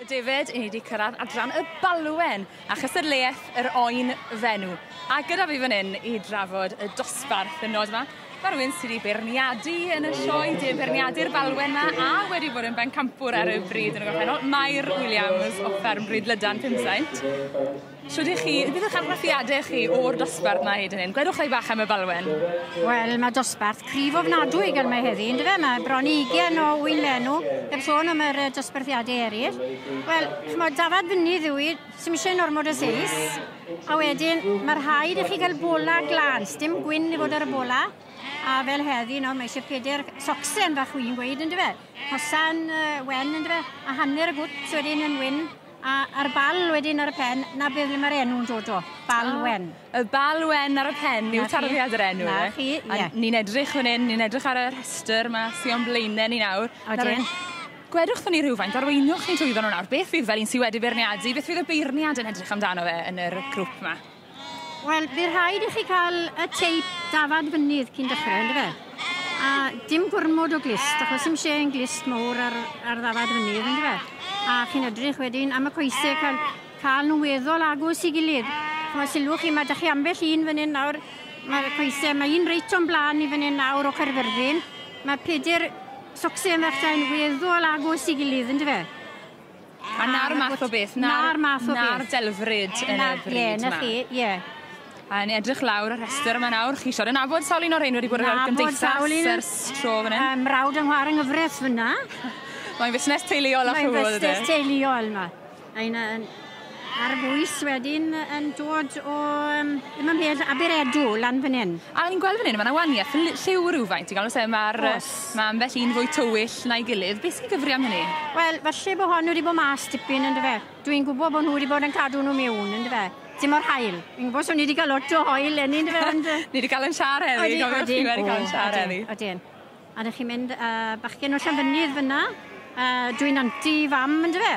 David, i ni wedi cyrraedd adran y balwen a chystadleuaeth yr oen fenw. A gyda fi fan hyn i drafod y dosbarth y nod yma, mae rhywun sydd wedi beirniadu yn y sioe, dim beirniadu'r balwen yma, a wedi bod yn bencampwr ar y bryd yn y gorffennol, Mair Williams o Fferm Bryd Lydan, Pumsaint. Shwd y'ch chi? Beth yw'ch argraffiade chi o'r dosbarth 'ma hyd yn hyn? Gwedwch rai bach am y falwen. Wel, mae dosbarth cryf ofnadwy gan mae heddi, yn dyfe? Mae bron i 20 o wynlenw, heb sôn am yr dosbarthiadau eraill. Wel, chymod, dafad fynydd yw i, sy'n eisiau normod o seis, a wedyn mae rhaid i chi gael bola glan, dim gwyn i fod ar y bola, a fel heddi, nawr mae eisiau peder socsen fach wy'n gweud, yn dyfe? Hosan uh, wen, yn dyfe? A hanner y gwt wedyn yn wyn, A a'r bal wedyn ar y pen, 'na beth le ma'r enw'n dod o. Bal Wen. Ah, y Bal Wen ar y pen yw tarddiad yr enw. 'Na chi, ie. A ni'n edrych fan 'yn, ni'n edrych ar y rhestr 'ma sy o'n blaene ni nawr. Odyn. Gwedwch 'tho ni rhywfaint, arweinwch ni trwyddo nw nawr, beth fydd fel un sy wedi beirniadu, beth fydd y beirniad yn edrych amdano fe yn yr grŵp 'ma? Wel, bydd rhaid i chi cael y teip dafad fynydd cyn dechrau, ynddo fe? A dim gormod o glist, achos dim lle yn glist mowr ar, ar ddafad fynydd, ynddo fe? A chi'n edrych wedyn am y coesau cael, cael nhw weddol agos i gilydd. Chwa sylwch chi, mae da chi ambell un fan hyn nawr, mae'r coesau, mae un reit o'n blaen i fan hyn nawr o Caerfyrddin. Mae peder socsau yn fachtain weddol agos i gilydd, ynddo fe? A 'na'r math o beth. 'Na'r math o beth. 'Na'r delfryd yn y bryd 'ma. Ie, 'na chi, ie. A o'n i edrych lawr y rhestr yma nawr, chi siarad yn nabod sawl un o'r rhein wedi bod yn y gymdeithas ers tro fan 'yn? Yym mrawd yn ngwar yng nghyfres fynna. Mae'n fusnes teuluol a Mae'n fusnes teuluol 'ma. Mae'n yym Mae'r bwys wedyn yn dod o um, ddim yn bell Aberedw lan fan hyn. A ni'n gweld fan hyn, mae'n awaniaeth lliw rhywfaint. Ti'n gweld, mae'r ma ambell un fwy tywyll na'i gilydd. Beth sy'n gyfri am hynny? Wel, falle bod hon wedi bod mas tipyn yn dyfe. Dwi'n gwybod bod nhw wedi bod yn cadw nhw mewn yn dyfe. Ti'n mor hael. Yn gwybod, so ni wedi cael lot o hoel enni yn dyfe. Ond... ni wedi cael yn siar heddi. Oedden, oedden. Ni wedi cael yn siar heddi. Oedden. A dych chi'n mynd â bachgen o Llanfynydd fyna, a dwi'n anti fam yndyfe?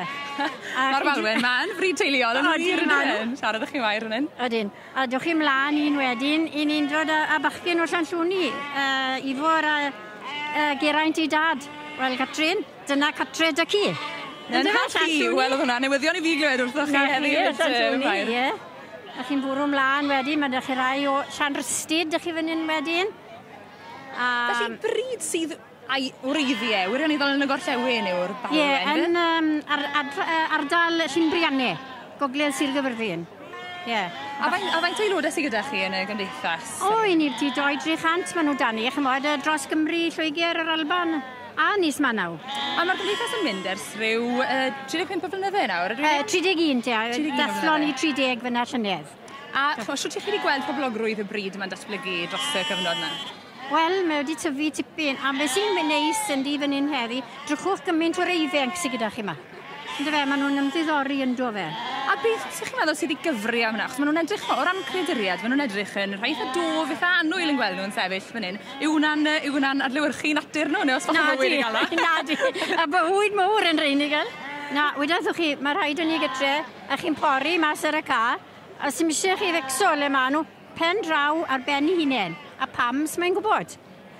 Ma'r falwen ma yn fryd teuluol yn wir yndyw e? Siarad â chi wair fan 'yn. Odyn. A dowch chi mlan un wedyn, 'yn ni'n dod â â bachgen o Llanllwni, yy Ifor a yy Geraint ei dad. Wel Catrin, dyna cartre da ci. Yn car chi? Wel o'dd hwnna'n newyddion i fi glywed wrthoch chi heddi yn Llyn Llwni. Ie, ie. A chi'n bwrw mlan wedyn ma' 'da chi rai o Llanrhystud 'da chi fyn 'yn wedyn. A... Felly bryd sydd a'i wreiddiau wirioneddol yn y gorllewin yw'r balwen Ie, yn um, ar, ar, ar, ardal Llynbrianne, gogledd Sir Gyfyrddin. Yeah. A faint, a faint o aelodau sydd gyda chi yn y gymdeithas? O, oh, i ni'r tu 200-300 maen nhw dan ni, chymod, dros Gymru, Lloegr, yr Alban, a Nis Manaw. A mae'r gymdeithas yn mynd ers rhyw uh, 35 o flynydde nawr, ydw i? Uh, 31, ie. 31 Dathlon i 30 fyna llynedd. A chwa, shwt ych chi wedi gweld poblogrwydd y bryd yma'n datblygu dros y cyfnod yma? Wel, mae wedi tyfu tipyn, a beth sy'n neis yn di fan hyn heddi, drychwch gymaint o'r eiddfenc sydd gyda chi yma. Ynddo fe, maen nhw'n ymddiddori ynddo fe. A beth sy'ch chi'n meddwl sydd wedi gyfri am hwnna? Achos maen nhw'n edrych, o ran creaduriad, maen nhw'n edrych yn rhai eitha dwf, eitha annwyl yn gweld nhw'n sefyll fan hyn. Yw hwnna'n yw hwnna'n adlewyrchu natur nhw, neu os bach o bywyd yn gael e? Na, di. A bywyd mowr yn rhain i gael. Na, wyddoch chi, mae rhaid yn ni gytre, A chi'n pori mas ar y car, a sdim eisiau chi fecso le maen nhw, pen draw ar ben ei hunain. A pam, sut mae'n gwybod?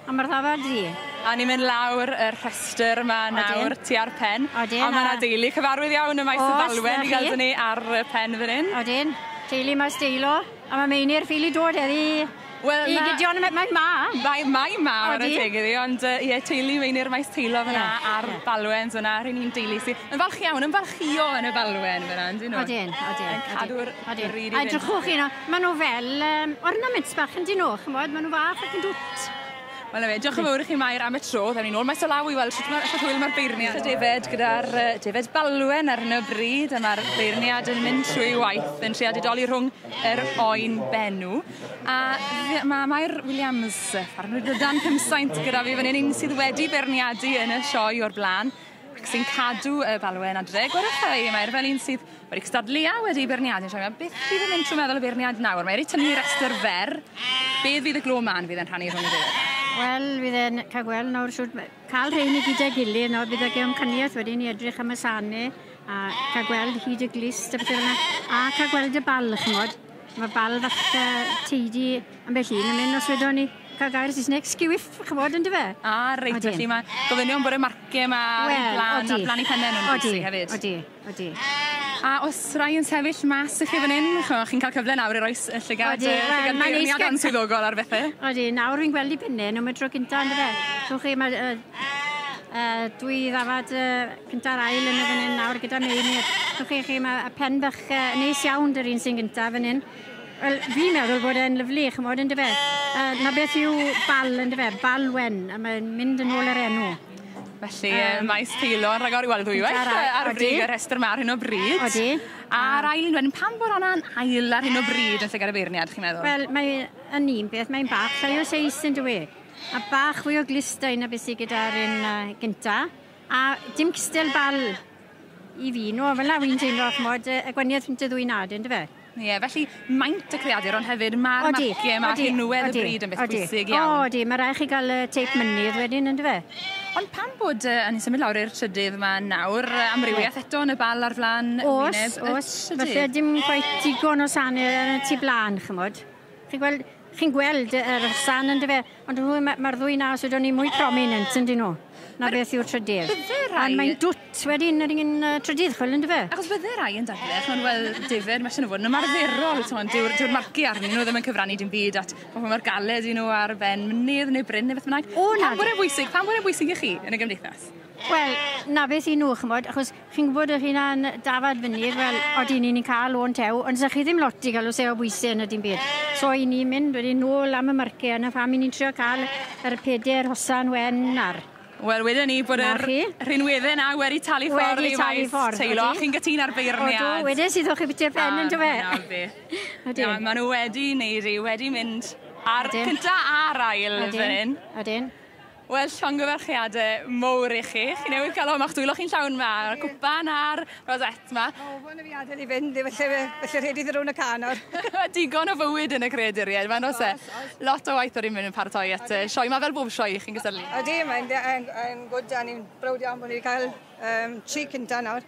A mae'r ddafad ddi. A ni'n mynd lawr y rhestr yma nawr, ti ar pen. Odin. A mae yna deulu cyfarwydd iawn y maes o falwen i gael dyn ni ar y pen fan hyn. Odin. Deulu mas deilo. A ma' Meinir ffili dod heddi Wel na... I Gideon a ma- mae 'ma. Mae mae 'ma ware teg iddi ond yy ie teulu Meinir Maes Teilo fan 'na a'r Balwens yna r'yn ni'n deulu sy yn falch iawn ymfalchïo yn y Falwen fyn 'na on'd 'yn nw? Odyn odyn. Yn cadw'r odyn. Yr un un un. A edrychwch chi nawr ma' nw fel yym ornaments bach on'd 'yn nw ch'mod ma' nw fach ac yn dwt. Wel 'na fe, diolch yn fawr i chi Mair am y tro, ddaw ni nôl maes o law i weld shwt ma' shwt hwyl ma'r beirniad. So David gyda'r yy David Balwen ar hyn o bryd a ma'r beirniad yn mynd trwy waith yn treial didoli rhwng yr oen benw a fe- ma' Mair Williams yy ffarmwr o dan cymsaint gyda fi fan 'yn un sydd wedi beirniadu yn y sioe o'r bla'n. ac sy'n cadw y balwen adre. Gwyrwch da i, mae'r fel un sydd wedi cystadlu a wedi beirniadu. Siarad am beth sydd yn mynd trwy meddwl y beirniad nawr. Mae wedi tynnu rhestr fer. Beth fydd y glo man fydd yn rhannu rhwng y ddiwedd? Wel, fydd e'n cael gweld nawr siwt cael rheini gyda gilydd nawr bydd ag amcaniaeth wedyn i edrych am y sane a cael gweld hyd y glist a bethau yna a cael gweld y bal chymod mae bal fach uh, teidi ambell un yn mynd os wedon ni Cael gair Saesneg sgiwif, chymod, yn dyfe? A, reit, Odin. felly mae gofynion bod y marciau yma ar well, blan, odi. ar blan i pennau nhw'n bwysig hefyd. Odi, odi, A os rai yn sefyll mas i chi fan hyn, chi'n cael cyfle nawr i roi y llygad, odi, uh, llygad well, beirniad answyddogol ar bethau. Odi, nawr fi'n gweld i pennau nhw, mae tro cynta yn dyfe. Chwch chi, mae uh, uh, dwy ddafad uh, cynta'r ail yn y fan hyn nawr gyda meini. Chwch chi, chi mae y pen bach uh, neis iawn dy'r un sy'n gyntaf fan hyn. Wel, fi'n meddwl bod e'n lyflu, chymod, yn dyfe? Uh, na beth yw bal, yn dyfe? Bal wen, a mae'n mynd yn ôl yr enw. Felly, um, maes peilo yn rhagor i weld ddwywaith ar brig y rhestr mae ar hyn o bryd. Odi. A'r ail un wedyn, pam bod hwnna'n ail ar hyn o bryd yn llygad y beirniad, chi'n meddwl? Wel, mae yn un beth, mae'n bach llai o seis yn dwi. A bach fwy o glistau na beth sydd gyda'r un uh, gynta. A dim cystel bal i fi. No, fel na fi'n teimlo, chmod, y gwaniaeth rhwng y ddwy nad yn dyfe? Ie, yeah, felly maint y creadur ond hefyd mae'r marciau, mae'r rhinwedd y bryd yn beth bwysig iawn. O, di, mae rhaid chi gael y teip mynydd wedyn yn dyfe? Ond pan bod uh, yn symud lawr i'r trydydd yma nawr, amrywiaeth eto yn y bal ar flan os, wyneb os, y trydydd? Os, falle dim quite digon o sanau yn y tu blaen, chymod. Chi'n gweld, chi'n gweld yr san yn dyfe, ond nhw mae'r ma ddwy na sydd o'n i mwy prominent yn dyn nhw. Na beth yw'r trydydd. Bydde rai... Ond mae'n dwt wedyn yr un uh, trydydd chwil yn dyfe. Achos bydde rai yn dadle, chwn wel difyr, mae sy'n fod yn ymarferol, ti'n dyw'r, dyw'r marci arnyn nhw ddim yn cyfrannu dim byd at pobl mae'r galed i nhw ar ben mynydd neu bryn neu beth bynnag. O, na. Pam bod e'n bwysig, pam bod e'n bwysig i chi yn y gymdeithas? Wel, na beth i nhw, chymod, achos Chi'n gwybod yr hyn a'n dafad fyny, wel, odi ni'n ni'n cael o'n tew, ond sa chi ddim lot i gael o seo bwysau yn y dim byd. So i ni'n mynd wedyn nôl am y marciau, yna pham i ni'n trio cael yr peder hosan wen ar. Wel, wedyn ni bod yr rhinweddau na wedi talu ffordd i waith teilo, a chi'n gytun ar beirniad. Odw, wedyn sydd o'ch i biti'r pen yn dyfe. Na, maen nhw wedi neud i, wedi mynd ar cynta a'r ail fan hyn. Odyn. Wel, llongyfarchiade mowr i chi. Chi newydd cael hwn, ma'ch dwylo chi'n llawn ma, a'r cwpan a'r rosette ma. O, fo na fi adael i fynd, efallai, felly rhaid i ddi rown y ca nawr. Digon o fywyd yn y creaduriaid ma, nos e. Lot o waith yr i'n paratoi at y sioe ma, fel bob sioe i chi'n gysylltu. Ydy, mae'n good, a ni'n browd iawn bod ni wedi cael tri cynta nawr.